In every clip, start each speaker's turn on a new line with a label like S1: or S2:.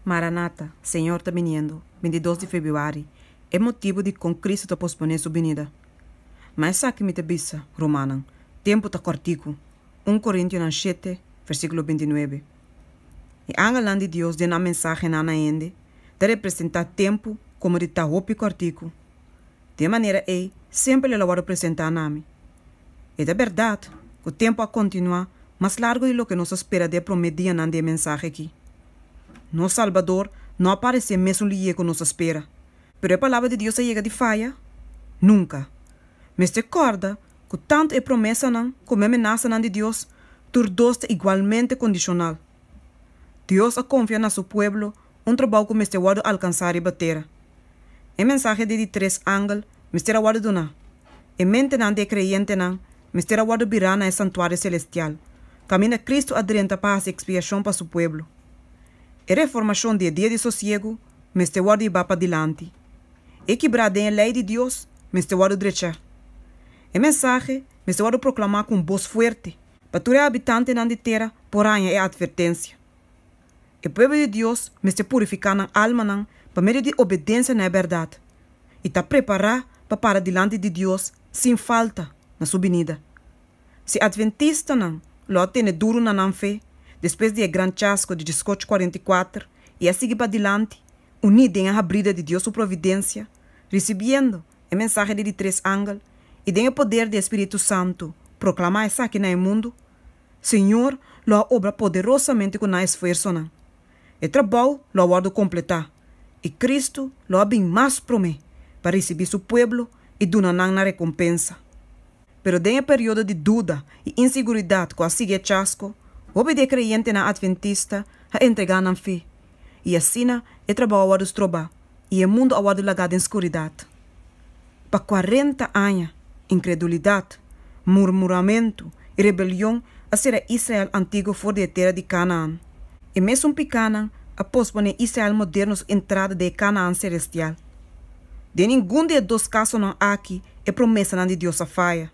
S1: Maranata, Señor ta biniendo, bintidos di Febuari, e motibu di kon Cristo ta posponé Su binida. Ma esaki mi ta bisa, rumannan, tempu ta kòrtiku, un Korintionan shete, versíkulo binti nuebe. E angelnan di Dios den nan mensahenan na hende ta representá tempu komo di ta hopi kòrtiku. den manera ei semper el a wòrdu presentá na mi. E ta bèrdat ku tempu a kontinuá mas largu di loke nos a spera den e promé dianan di e mensahe akí. Nos Salbador no a paresé mesun lihé ku nos a spera. Pero e Palabra di Dios a yega di faya? Nunka! Mester kòrda ku tantu e promesanan komo e amenasanan di Dios tur dos ta igualmente kondishonal. Dios a konfia na su pueblo un trabou ku mester wòrdu alkansá riba tera. E mensahe di di tres angel mester a wòrdu duná. E mentenan di e kreyentenan mester a wòrdu birá na e santuario selestial, kaminda Kristu a drenta pa hasi ekspiashon pa su pueblo. E reformashon di e dia di sosiegu mester wòrdu ibá padilanti. E kibrá den e lei di Dios mester wòrdu drechá. E mensahe mester wòrdu proklamá ku un bos fuerte, pa tur e habitantenan di tera por haña e atvertensia. E pueblo di Dios mester purifiká nan almanan pa medio di obedensia na e bèrdat i ta prepará pa para dilanti di Dios sin falta na su binida. Si adventistanan lo a tene duru na nan fe despues di e gran chasco di diesocho cuarenta i kuater i a sigui padilanti uní den e habrida di Dios su providensia, risibiendo e mensahe di di tres angel i den e poder di e spiritu santu proklamá esaki na e mundu, Señor lo a obra poderosamente cu nan esfuersonan. E trabou lo a wordo completá, y Cristo lo a bin mas prome pa ricibi su pueblo y duna nan nan recompensa. Pero den e periodo di duda y insiguridad cu a sigui e chasco, hopi di e creyentenan Adventista a entrega nan fe, y asina e trabou a wordo strobá. i e mundu a wòrdu lagá den skuridat. Pa kuarenta aña, inkredulidat, murmuramentu i rebelion a sera e Israel antiguo for di e tera di Kanaan. E mesun pikanan a posponé e Israel moderno su entrada den e Kanaan selestial. Den ningun di e dos kasonan aki e promesanan di Dios a faya.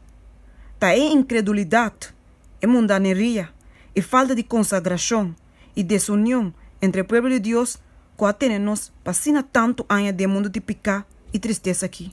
S1: Ta e inkredulidat, e mundaneria, e falta di konsagrashon i desunion entre e pueblo di Dios ku a tene nos pa asina tantu aña den mundu di piká i tristesa akí.